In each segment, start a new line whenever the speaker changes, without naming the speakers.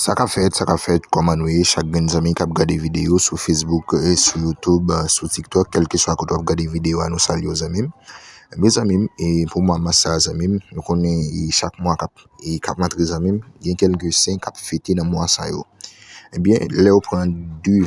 Sa kap fèt, sa kap fèt, kòman nou ye chak grenn zanmi kap gade videyo sou Facebook, sou YouTube, sou TikTok, kèlke swa kote wap gade videyo a nou salye w zanmi m. Ebyen eh zanmi m, e pou mwa mas sa zanmi m, nou konnen e chak mwa kap e kap rantre zanmi m, gen kèlke sen kap fete nan mwa sa yo. Ebyen eh lèw pran 2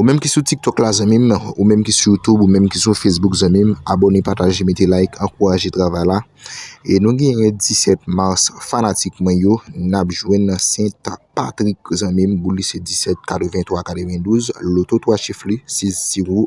Ou menm ki sou tiktok la zanmim Ou menm ki sou youtube Ou menm ki sou facebook zanmim Abone pataje mete like ankouraje travay la E nou gen yon 17 mars fanatik mwen yo Nap jwenn nan sent patrik zanmim Boulise 17 83 92 Loto 3 chif li 6 0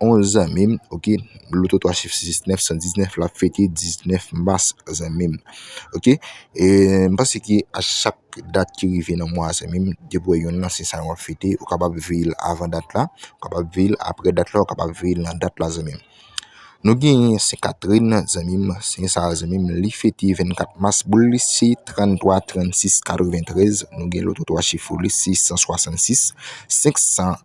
On zanmim ok loto 3 chif 669 119 lap fete 19 mas zanmim ok m panse ke a chak dat ki rive nan mwa zanmim depi w wè yonn nan se sa wap fete ou kapab veye l avan dat la ou kapab veye l aprè dat la ou kapab veye l nan dat la zanmim nou genyen se katrin zanmim se sa zanmim li fete 24 mas boul li se 33 36 93 nou gen loto 3 chif pou li se 166 500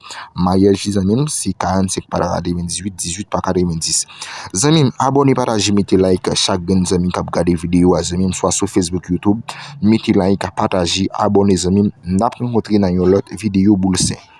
Maryaj li zanmim se 45 patata 2018 18 paka 2010 Zanmim abone pataje mete like chak grenn zanmi kap gade video a zanmim swa sou Facebook YouTube mete like pataje abone zanmim nap rankontre nan yon lòt video boul 5.